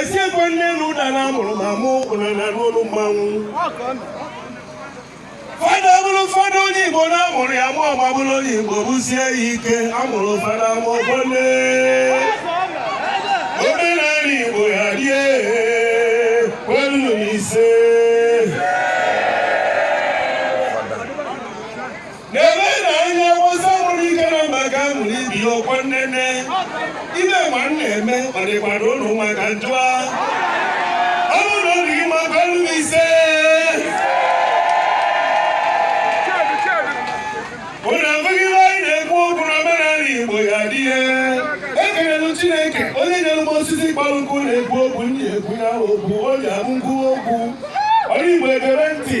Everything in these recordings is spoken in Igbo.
esi ekwe nne na ụda na amụrụ m amụ ụna na n'olu mmanwụ fada bụrụ fada onye igbo na amụrụ ya amụ ọ ga-abụrụ onye igbo bụsie ya ike amụrụ fada ma ọgbọ nne omenala igbo ya dị kwenu ise n'ebe na ihe ọgbọsọ nwere ike na mba ga mụrụ ibi ọkwa nnene ihe a m na-eme ọ dịkwara ụna mma ka m jụa ọ bụrụ na ọ dị gị mma gwa m ise ụna ege ihe anyị na-ekwu okwu na omenala igbo ya dị ekelelu chineke onye nyere m osisi kpọrọ nkụ na-ekwu okwu ndị ekwu ya okwu o ji amụ nkwu okwu oru igbo egere ntị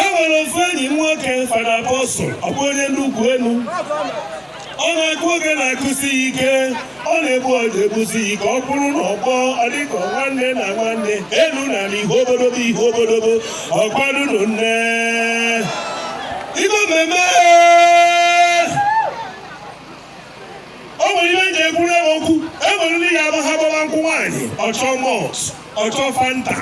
e nwere ofu enyi m nwoke fada apọstụl ọ bụ onye nnukwu enu ọ na-akụ ogene akụsi ya ike ọ na-egbu ọja egbusi ya ike ọ bụrụ na ọ kpọọ ọ dịka nwanne na nwanne elu na ala ihu obodobo ihu obodobo ọkwadunu nne igbo mmemme o nwere ihe eji ekwuru ewe okwu enwere ndị ya ha gbaba nkwụ nwaanyị ọ chọọ malt ọ chọọ fanta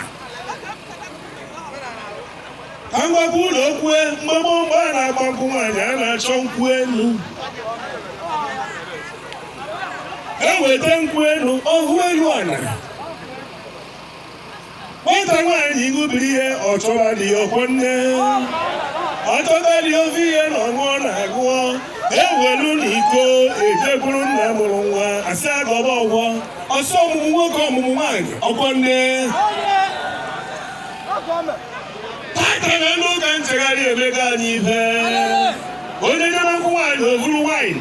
ka m gwakwa ụnụ okwu mgbe gboo mgbe a na-agba nkwụ nwaanyị a na-achọ nkwụ elu eweta nkwụ elu ọhụ elu ala nwata nwaanyị igubiri ihe ọ chọba di ya ọkwọ nne ọ chọta di ofe ihe na ọṅụọ na agụọ ewelu na iko ejekwuru nna mụrụ nwa asị ya gọba ọ gọọ ọ sị ọmụmụ nwoke ọmụmụ nwaanyị ọkwọ nne tata na elu ụka nchegharị emego anyị ife onye nyere nkwụ nwaanyị o vuru nwaanyị